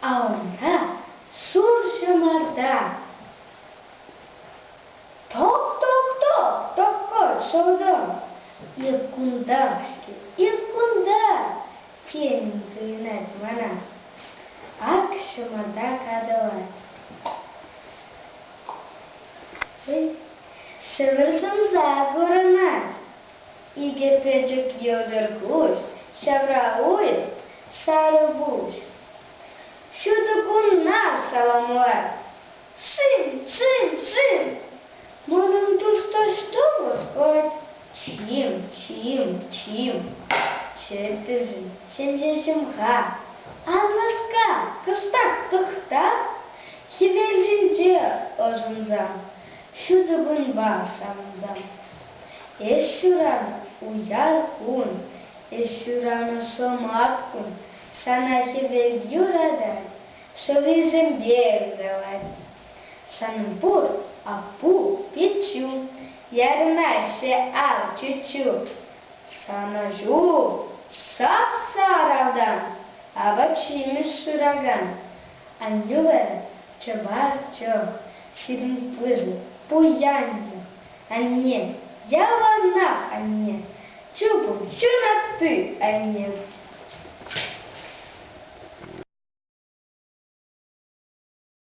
А унта зур ҫӑмарта. Ток-ток-ток, токкӑ шӑлтӑ. Ик кунта-ҫке, ик кунта, тен, туйӑнать мана. Ак ҫӑмарта катӑлать. Ҫӗмӗр сӑмса курӑнать. Икӗ пӗчӗк йӑлтӑр куҫ, ҫавра уй, сарӑ пуҫ. Ҫутӑ кунна саламлать. Шим, шим, шим! Манӑн тус таҫта васкать. Чиим, чиим, чиим. Чӗппӗшӗн, ҫемҫе ҫӑмха. Ан васка, кӑштах тӑхта. Хӗвел ҫинче ӑшӑнса. Ҫутӑ кунпа савӑнса. Эс ҫуранӑ уяр кун, эс ҫуранӑ шӑмат кун, сана хӗвел юратать, шӑллисемпе ыркалать. Шанпур, апу, пиччӳ, ярӑнаҫҫӗ ав чуччу. Санӑҫу сап-сарӑ автан, апат-ҫимӗҫ шыракан. Аннӳлӗр чӑваш чох, ҫирӗм пысӑк, пуянлӑх. Анне, яланах анне, чупӑн ҫунатти анне.